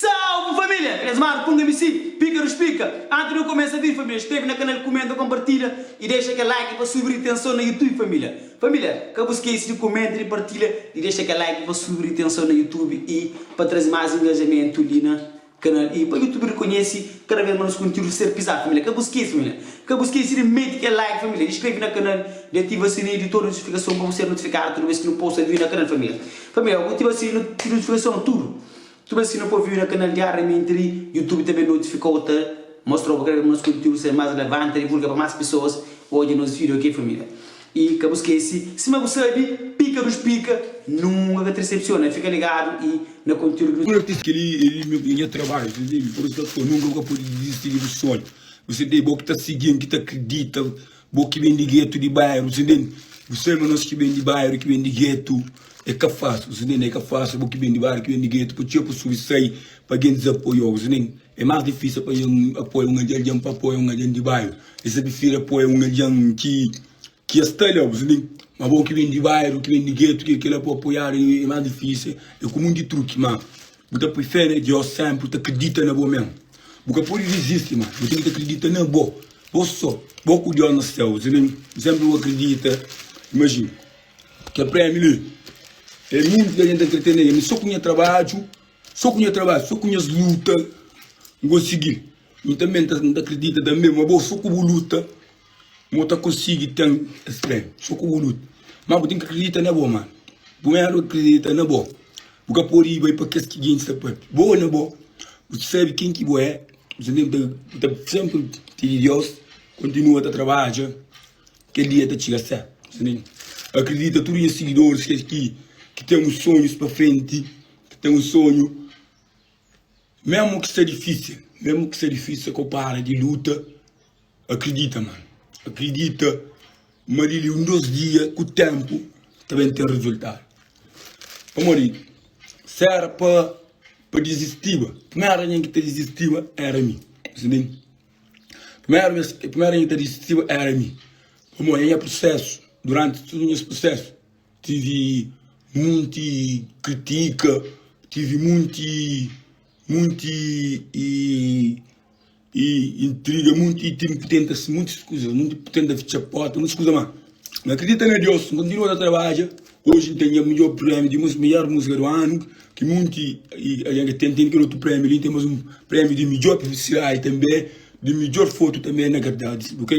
Salve família! Eles marca um MC, pica nos pica! Antes de eu começa a vir família, escreve na canal, comenta, compartilha e deixa aquele like pa subir de tensão na YouTube família! Família, ka bu skece de comenta, de partilha, de deixa aquele like pa subir de tensão na YouTube e pa traze mais engajamento li na. Kanal i pa youtube rekonhesi kada vez ma nos kontiúdu ser pisá família ka bu skesi família ka bu skesi di meti kel like família di skrebe na kanal di ativa sininhu di tudu notifikason pa bu ser notifikadu tudu vez ki nu posta víu na kanal família família obu ativa sininhu di notifikason tudu tudu vez ki nu poi víu na kanal diariamenti li youtube ta ben notifikau ta mostrau bu kada vez ma nos kontiúdu ser más relevanti ta divulga pa más pesoas odja nos víu ok família. I ka bu skese, sima bu sabe, pika dus pika, nunka ka trsepsiona, fika ligadu i na konteúdu di. Notis, Kel-li é nha trabadju, ta entende? Pur isu ta fla, nunka bu ka pode dizisti di bu sonhu, bu sente? É bo ki ta sigi-m, ki ta kridita, bo ki ben di gétu di bairu, bu sente? Bu sabe ma nos ki ben di bairu, ki ben di gétu, é ka fasil, bu sente? É ka fasil, bo ki ben di bairu, ki ben di gétu, pa txeu pesoa i sai pa algen dizapoia-u, bu sente? É más difísil pa algen apoia un algen, pa apoia un algen di bairu. E sabi si da poi un algen ki ki es ta leu, persebi? Ma bo ki ben di bairu, ki ben di getu, ki kila pa apoiadu e más difísil, e ku monti truki. Ma bu ta poi fé na Deus sénpri, bu ta kridita na bo mésmu. Bu ka pode dizisti, ma bu ten ki ta kridita na bo, bo sô, bo ku Deus na Séu, persebi? N sénpri bu ka kridita, imajina kel prémiu li, é monti di algen ta kre tene el, ma sô ku nha trabadju, sô ku nha trabadju, sô ku nhas luta N konsigi. Nu tanbe N ta kridita tanbe ma bo so ku bu luta mo ta konsigi ten es premi so ku bu luta ma bu ten ki kridita na bo man bu me anu kridita na bo bu ka podi bai pa kes ki gen sa pape bo na bo bu ki sabi ken ki bo e bu sa tenta bu ta senpri pidi Deus kontinua ta tarbaja kel dia ta ciga se bu ta kridita tudu nha sigidoris kes ki ki ten sonhus pa frenti ki ten sonhu. Mesmo ki sta difícil Mesmo ki sta difícil ka bu para di luta Akridita man Akridita ma di li un dos dia ku tenpu ta ben ten resultadu Pamodi si era pa pa dizistiba Primeru algen ki ta dizistiba era mi Sibi-m Primeru bes Primeru algen ki ta dizistiba era mi Pamodi na nha prusesu Duránti tudu nhas prusesu. Tive munti kritika, tive munti munti i i intriga, munti i tive ki tenta munti kuza, munti tenta fitxa porta, munti kuza má. N akredita na Deus, N kontinua ta tarbaja. Oji N ten nha midjór prémiu di músiku midjór músiku di anu. Ki monti algen ka ten ten kel otu prémiu li, ten más un prémiu di midjór publisidadi tanbê, di midjór fotu tanbê na verdadi sabe ok.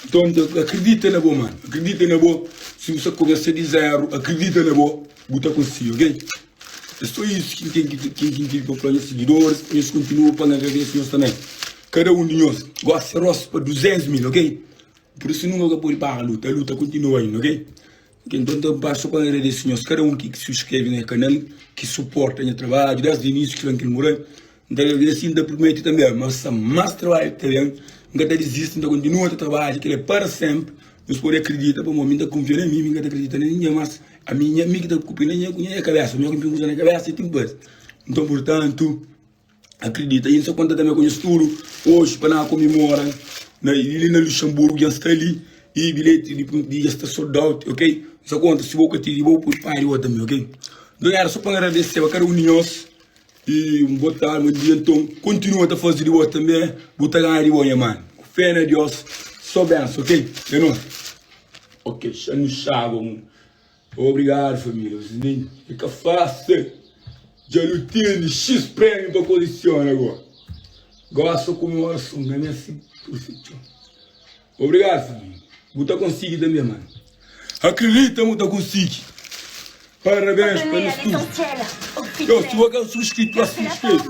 Nton akridita na bo mano, akridita na bo, si bu sta kumesa di zéru akridita na bo, bu ta konsigi ok. É sô isu ki N ten ki N ten pa fla nhas sigidoris pa nhos kontinua pa ngadra Deus nhos tanbê kada un di nhos gosi se rostu pa 200 mil ok. Pur isu nunka ka pode para luta, luta kontinua inda ok. Kel nton ta ba so pa agradese nhos kada un ki subskrebe nha kanal ki suporta nha trabadju desdi inísiu ki fla-m ki el muda n ta agradese i n ta prumete tanbe ma sta más trabadju ki ta ben n ka ta dizisti n ta kontinua ta trabadja kel-la para sénpri nhos pode akridita pamodi ami n ta kunfia na mi mi ka ta akridita na ningen más ami nha mi ki ta kupe na nha ku nha kabésa mi ki n ten kuza na kabésa i ten ki faze nton purtantu. Akridita i N sa konta tanbe ku nhos tudu oji pa na komemora na li na Luxanburgu dja N sta li i bilheti di primeru dia dja sta sold out ok N sa konta si bo ka tigi bo poi pari bo tanbe ok Nton éra so pa N agradeseba kada un di nhos i un bo tardi bon dia Nton kontinua ta faze di bo tanbe bu ta ganha di bo nha manu Ku fé na Deus so benson ok é nos ok xa nu xaba un. Obrigado família vocês nem é ka fácil dja nu tene xis prémiu pa kolesiona agora gosta ku me orason na minha si perfeição obrigado família bu ta konsigi tanbe man akredita mu ta konsigi parabéns pa nos tudo yo si bo ka é un subscritor subscreve.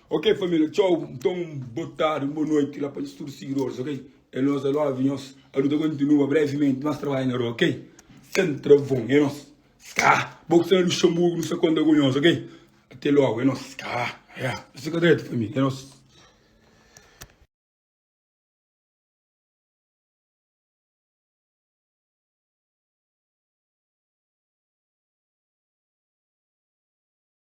Ok família txau nton bo tardi un bo noite la pa nhos tudo seguidores ok é nós i love nhos a luta continua brevemente más trabalho na rua ok sem travão é nós ska bo ki sta na luxemburgo nu sa conta ku nhos ok até logo é nós ska ya nhos fika dretu família é nós.